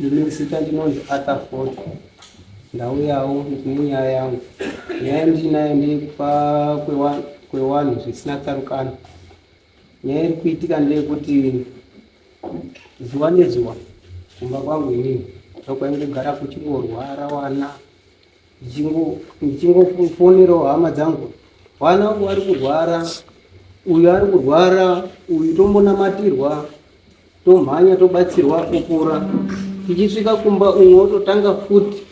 Ndine zita ndinonzi Arthur Ford. Ndauyawo nenyaya yangu. Nyaya ndiinayo ndeyekufa kwewanhu zvisina tsarukano. Nyaya iri kuitika ndeyekuti zuva nezuva kumba kwangu inini ndokwainge kugara kuchingorwara wana ndichingofonerawo hama dzangu vana vangu vari kurwara uyu ari kurwara uyu tombonamatirwa tomhanya tobatsirwa kupora tichisvika kumba umwe wototanga futi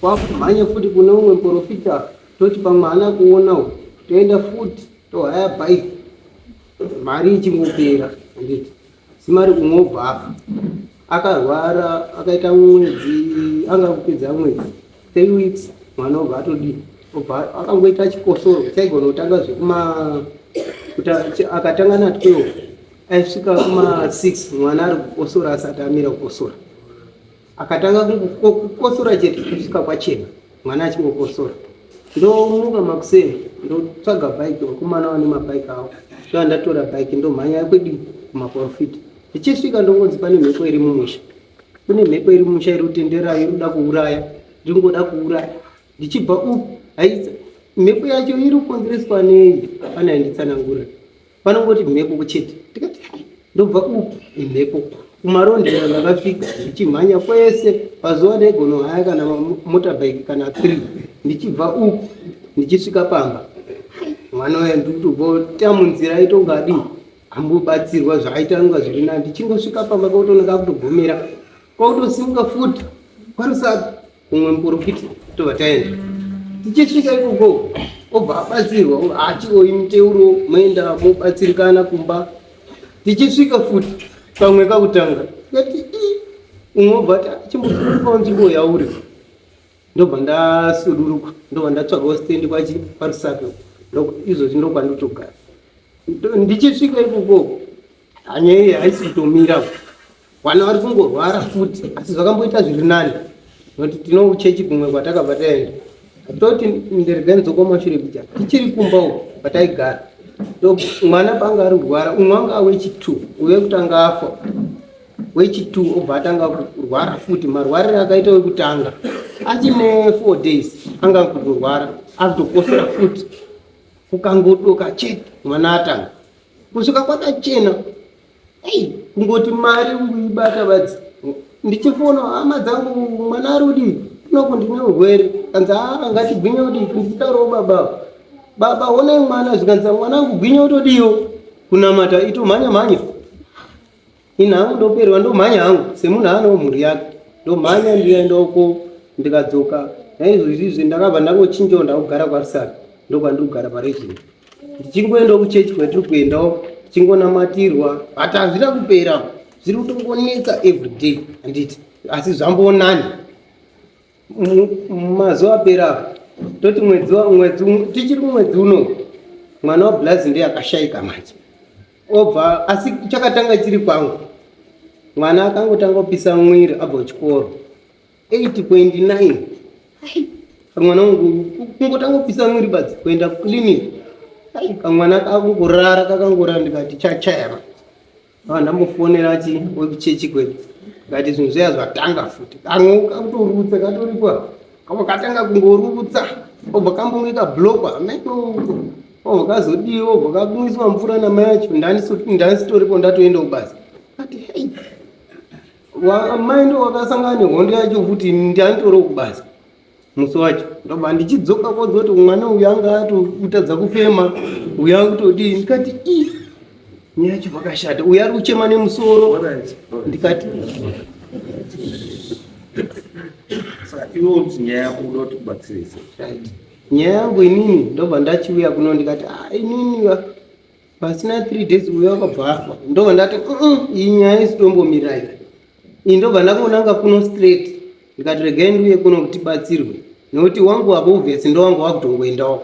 kwakumhanya futi kune umwe muporofita toti pamwe haana kuona u toenda futi tohaya bhaiki mari ichingopera anditi Simari kumwe obva afa akarwara akaita mwedzi anga kupedza mwedzi three weeks mwana obva atodii obva akangoita chikosoro chaigona kutanga zvekuma akatanga na 12 aisvika kuma 6 mwana ari kukosora asati amira kukosora akatanga kukosora chete kusvika kwachena mwana achingokosora ndomuka makuseni ndotsvaga bhaiki vakomana vane mabhaiki avo ndoa ndatora bhaiki ndomhanya yakwedi kumaporofita ndichisvika ndongonzi pane mhepo iri mumusha kune mhepo iri mumusha iri kutendera iri kuda kuuraya ndiri kungoda kuuraya ndichibva uku haisa mhepo yacho iri kukonzereswa nei pane ainditsanangurira vanongoti mhepo chete tikati ndobva upi imhepo kumarondera ndakafika ndichimhanya kwese pazuva regono haya kana motorbike kana three ndichibva uku ndichisvika pamba mwana uya ndikutobota munzira aitonga adii ambobatsirwa zvaaita nonga zviri nani ndichingosvika pamba kwakutonaka kutogomera kwakutosimuka futi kwarusapi kumwe muporofita tobva taenda tichisvika ikoko obva abatsirwa hatioi muteuro moenda mobatsirikana kumba tichisvika futi pamwe kakutanga yati i umwe obva ati chimbosurukawo nzvimbo yauri ndobva ndasuduruka ndobva ndatsvagawo stendi kwachi parusape izvozvi ndokwandotogara Ndo- ndichisvika ikoko hanya iyi haisi kutomira vana vari kungorwara futi asi zvakamboita zviri nani nokuti tinouchechi kumwe kwatakabva taenda atoti ndirega ndzokomashure kuja tichiri kumba uko kwataigara so mwana paanga ari kurwara umwe anga wechitwo uve kutanga afa wechitwo obva atanga kurwara futi marwarire akaita wekutanga achine four days anga kutorwara akutokosera futi kukangodoka chete mwana atanga Kusvika kwakachena. Hey, kungoti mari uibata vadzi. Ndichifona hama dzangu mwana ari kudii? Kunoku ndine urwere. Kanzi haa ngatigwinye kudii? Nditaurawo baba. Baba honai mwana zvikanzi mwanangu gwinye utodiwo kunamata itomhanya mhanya. ini hangu ndoperwa ndomhanya hangu semunhu anewo mhuri yake ndomhanya ndienda uko ndikadzoka naizvozvizvi ndakabva ndangochinjawo ndakugara kwarisaka ndokwandiri kugara paregina ndichiri kuendawo kuchechi kwatiri kuendawo tichingonamatirwa but hazvina kupera zviri kutongonetsa everyday handiti asi zvambonani mazuva apera toti mwedzi tichiri kumwedzi uno mwana wablazi ndiye akashaika manje obva asi chakatanga chiri kwangu mwana akangotanga kupisa mwiri abva kuchikoro 8.9 kamwana wangu kungotanga kupisa mwiri badzi kuenda kuclinic ai kamwana kakungorara kakangorara ndikati chachayama ava ndamufonera ati wekuchechi kwedu ndikati zvinhu zviya zvatanga futi kamwe kakutorutsa katoripo kavo katanga kungorutsa obva kambonge kablokwa ameno uko obva kazodii obva kakumwiswa mvura namai yacho ndandisitoripo ndatoenda kubasa ati hei mai ndo wakasangana nehondo yacho futi ndanditoriwo kubasa musi wacho ndobva ndichidzoka kodzoti mwana uyu anga atotadza kufema uyu akutodii ndikati ii Nyaya chivakashata. Uya ari kuchema nemusoro. Ndikati Saka iwe unzi nyaya yako unoda kuti kubatsirise. right. Nyaya yangu inini ndobva ndachiuya kuno ndikati ah inini va- pasina 3 days uya wakabva afa. Ndobva ndati "Mm, iyi nyaya isitombomirai. Iyi ndobva ndakonanga kuno straight. Ndikati regai ndiuye kuno kuti batsirwe. Nokuti wangu wako obvious ndowanga wakutongoendawo.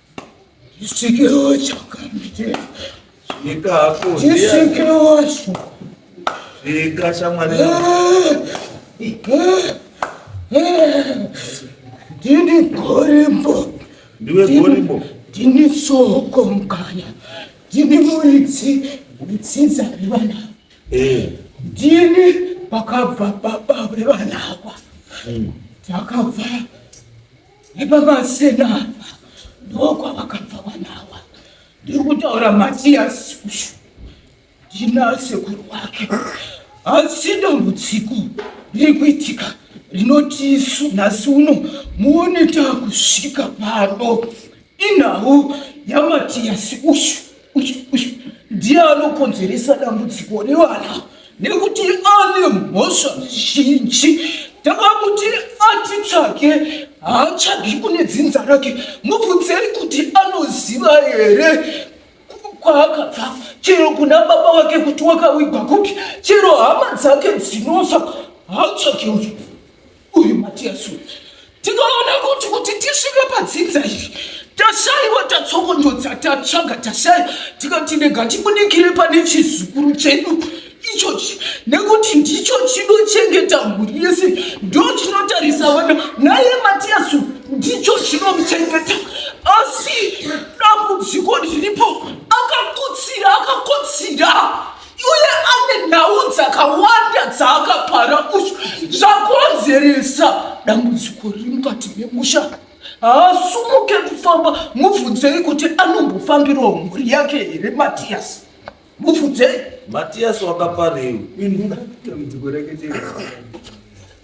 Chisikiro chakamutera. Svika hako. Chisikiro wacho. Svika shamwari. Ndini gorimbo. Ndiwe gorimbo. Ndini soko mukanya. Ndini muridzi wetsitsa revana. Eh. Ndini pakabva baba revana ava. Takabva. Hmm. Nepamazena apa ndokwavakabva vanawa. Ndiri kutaura Matiyasi uyu ndina sekuru wake, asi dambudziko riri kuitika rinoti isu nhasi uno muone takusvika pano Inhau yaMatias uyu uyu uyu ndiye anokonzeresa dambudziko revana nekuti ane mhosva zhinji. Takamuti atitsvage haatsvagi kune dzinza rake. Mubvunzei kuti anoziva here ku- kwaakabva chero kuna baba vake kuti wakavigwa kupi chero hama dzake dzinofa haatsvagi uyu. uyu matiyasu tikaona kuti kuti tisvike padzinza iri tashaiwa tatsokondodza tatsvaga tashaya tikati ndega tibudikire pane chizukuru chedu ichochi nekuti ndicho chinochengeta mhuri yese ndo chinotarisa vana naye matiyasu ndicho chinomuchengeta asi dambudziko riripo akakutsira akakotsira uye ane nhau dzakawanda dzaakapara uyu zvakonzeresa dambudziko riri mukati memusha haasumuke kufamba mubvunzei kuti anombofambirawo mhuri yake here matiyasi mubvunzei matiyasi wakaparewi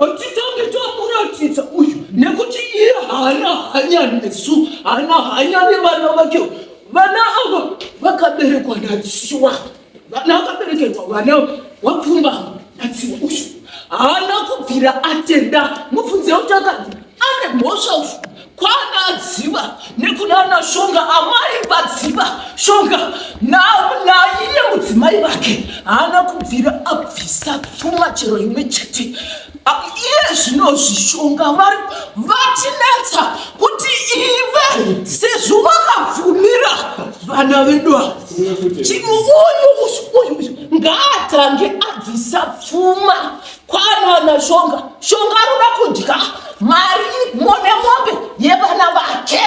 Achitongitwakuratidza uyu nekuti iye haana hanya nesu haana hanya nevana vake vana ava vakaberekwa nadziwa vana vakaberekerwa vana wapfumbama atsiwa ushu haana kubvira atenda mubvunze kuti akati ane mhosva ushu kwana adziva nekunana shonga amai vadziva shonga naiye mudzimai vake haana kubvira abvisa pfuma chero imwe chete Iye zvino zvishonga vari vatinetsa kuti ive sezvo vakabvumira vana vedu ava chino uyu uyu ngaatange abvisa pfuma kwanana shonga shonga anoda kudya mari mone mombe yevana vake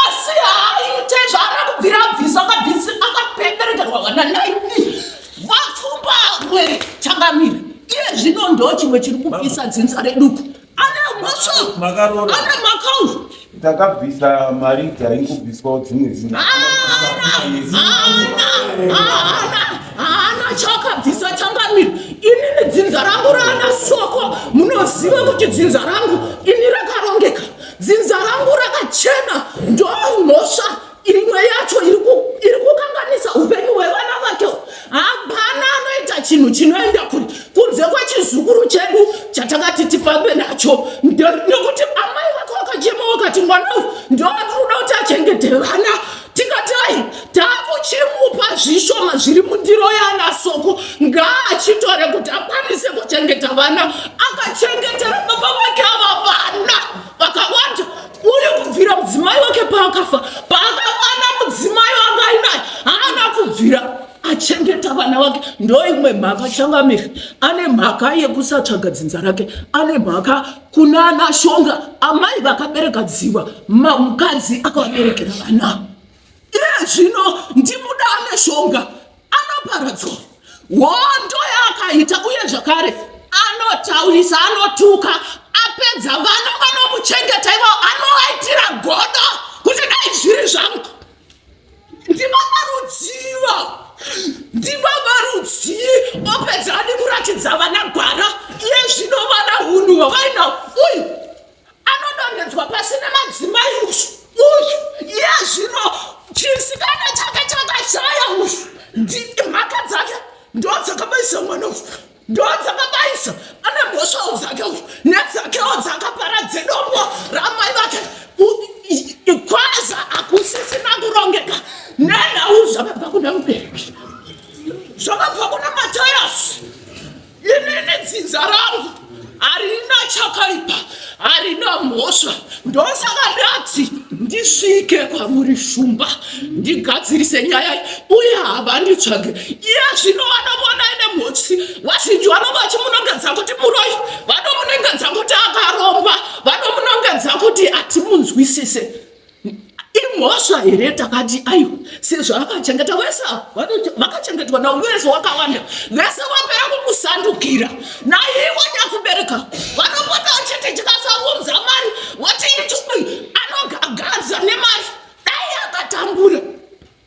asi haaite zvaara kubvira abvisa akabvisa akapeperekerwa vana naini vapfumba rwere changamire iye zvino ndo chimwe chiri kupisa dzinza reduku ana mhosva Makarora. ana makaufu takabvisa mari dzaingobviswawo dzimwe zina haana chakabvisa changamire inini dzinza rangu raana soko munoziva kuti dzinza rangu ini rakarongeka dzinza rangu rakachena ndomhosva imwe yacho iri kukanganisa upenyu hwevana vake hapana anoita chinhu chinoenda kuri kunze kwechizukuru chedu chatakati tifambe nacho nekuti amai vake vakachema vakati mwana uyu ndovari kuda kuti achengete vana tikati ai takuchimupa zvishoma zviri mundiro yana soko ngaachitore kuti akwanise kuchengeta vana akachengetera baba vake ava vana vakawanda uri kubvira mudzimai wake paakafa paakawana mudzimai wanga ainaye haana kubvira achengeta vana vake ndoimwe mhaka changamiri ane mhaka yekusatsvaga dzinza rake ane mhaka kuna ana shonga amai vakabereka dziva mukadzi akavaberekera vana iye zvino ndimuda ane shonga anoparadzwa hondo yaakaita uye zvakare anotaurisa anotuka apedza vana vanomuchengeta ivao anovaitira godo kuti dai zviri zvangu ndibaba rudziva ndibaba rudzi opedza adi kuratidza vana gwara iye zvino vana hunhu vavainao uyu anodonhedzwa pasi nemadzimai uyu uyu iye zvino chisikana chake chakashaya uyu mhaka dzake ndo dzakabaisa mwana uyu ndo dzakabaisa ane mhosvawo dzake uyu nedzakewo dzakapara dzedombo ramai vake kwaza hakusisina kurongeka nenhau zvakabva kuna mubereki zvakabva kuna matayasi inini dzinza rangu harina chakaipa harina mhosva ndosaka ndati ndisvike kwamuri shumba ndigadzirise nyaya uye havanditsvage iye zvino vanomona ine mhotsi vazhinji vanova vachimunongedza kuti muroi vanomunongedza kuti akaromba vanomunongedza kuti hatimunzwisise imhosva here takati aiwa sezvaakachengeta wese vakachengetwa na wese wakawanda vese vapera kukusandukira naivo takubereka vanopota chete tikasaunza mari wati itubi anogagadza nemari dai akatambura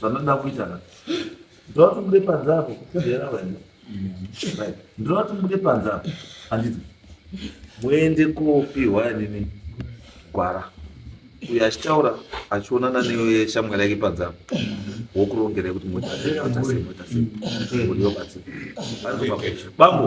zvanoda kuita ka ndoda kuti mude panze apo kuera vaenda ndoda kuti mude panze apo handiti muende kopiwa nini gwara uyo achitaura achionana neshamwari yake panze apo wokurongerai kuti moita sei moita sei moita sei kuti yobatsira bambo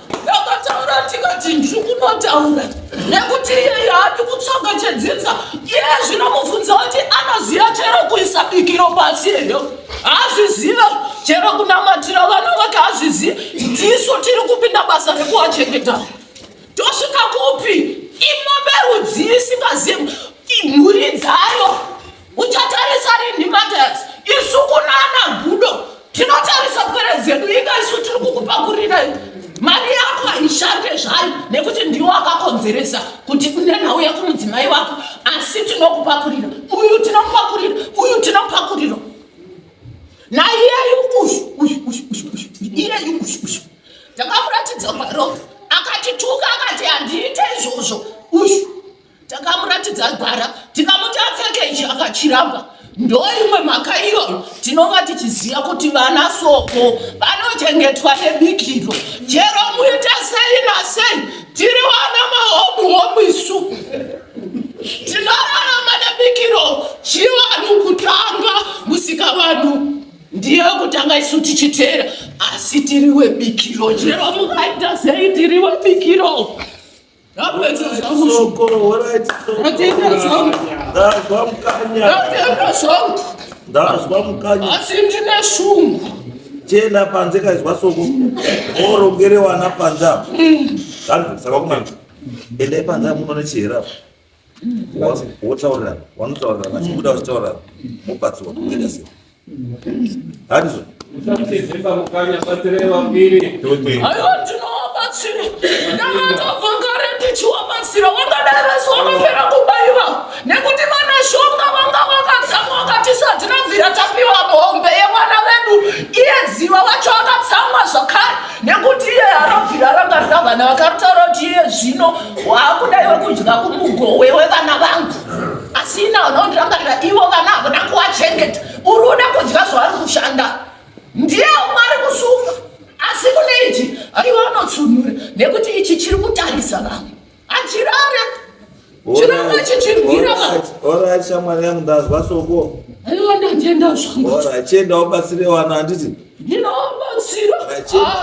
ndakataura ndikati ndiri kunotaura nekuti iye yaadi kutsvaga chedzinza iye zvinomubvunza kuti anoziva chero kuisa bikiro pasi here hazvizive chero kunamatira vana vake hazvizive ndisu tiri kupinda basa rekuwachengeta tosvika kupi imombe rudzii isingazivi mhuri dzayo Uchatarisa rinhi Matias? Isu kunana gudo tinotarisa pwere dzedu inga isu tiri kukupakurira mari yako haishande zvayo nekuti ndiwo akakonzeresa kuti une nhau yakumudzimai wako asi tinokupakurira uyu tinomupakurira uyu tinomupakurira naiyeyu uyu uyu uyu uyu uyu iyeyu uyu uyu ndakamuratidza mwaropa akatituka akati handiite izvozvo uyu takamuratidza gwara tikamuti apfeke ichi akachiramba ndoimwe mhaka iyoyo tinonga tichiziva kuti vana soko vanochengetwa nebikiro chero muita sei nasei tiri vana mahomu homu isu tinorarama nebikiro chivanhu kutanga musika vanhu ndiyo kutanga isu tichiteera asi tiri webikiro chero mukaita sei tiri webikiro ndazwa mukanya asi ndine shungu chena panze kaizwa soko orogerewana panze apo mm. saka kumana endai panze apo unoona chihera apo wotaurirana wanotaurirana vachibuda vachitaurirana mobatsiwa kuita sei handizvo ndakatovakaretichiwabatsira wakadaro asi wakapera kubaiwa nekuti vana shonga vanga vakatsamwa wakatisati nabvira tapiwa bombe yemwana vedu iye dziva wacho akatsamwa zvakare nekuti iye arabvira ranga rikavana vakaritaura kuti iye zvino wakuda iwe kudya kumugowe wevana vangu asina unondirangarira ivo vana havana kuwachengeta uri uda kudya zvavari kushanda ndiye umwe ari kusunga asi kune ichi aiwa unotsunura nekuti ichi chiri kutarisa vamwe achirara chiranga chichirwira orit shamwari yangu ndazwa soko aiwa ndatenda zvangu orit chienda ubatsire wana handiti ndinovabatsira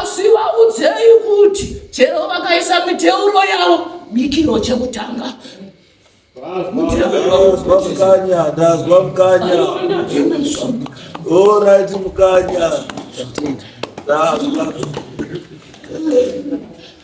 asi vaudzei kuti chero vakaisa miteuro yavo mikiro chekutanga mukanya ndazwa mukanya orit mukanya ndazwa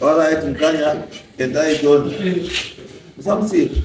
Alright, mkanya, endai John. Msamusiri.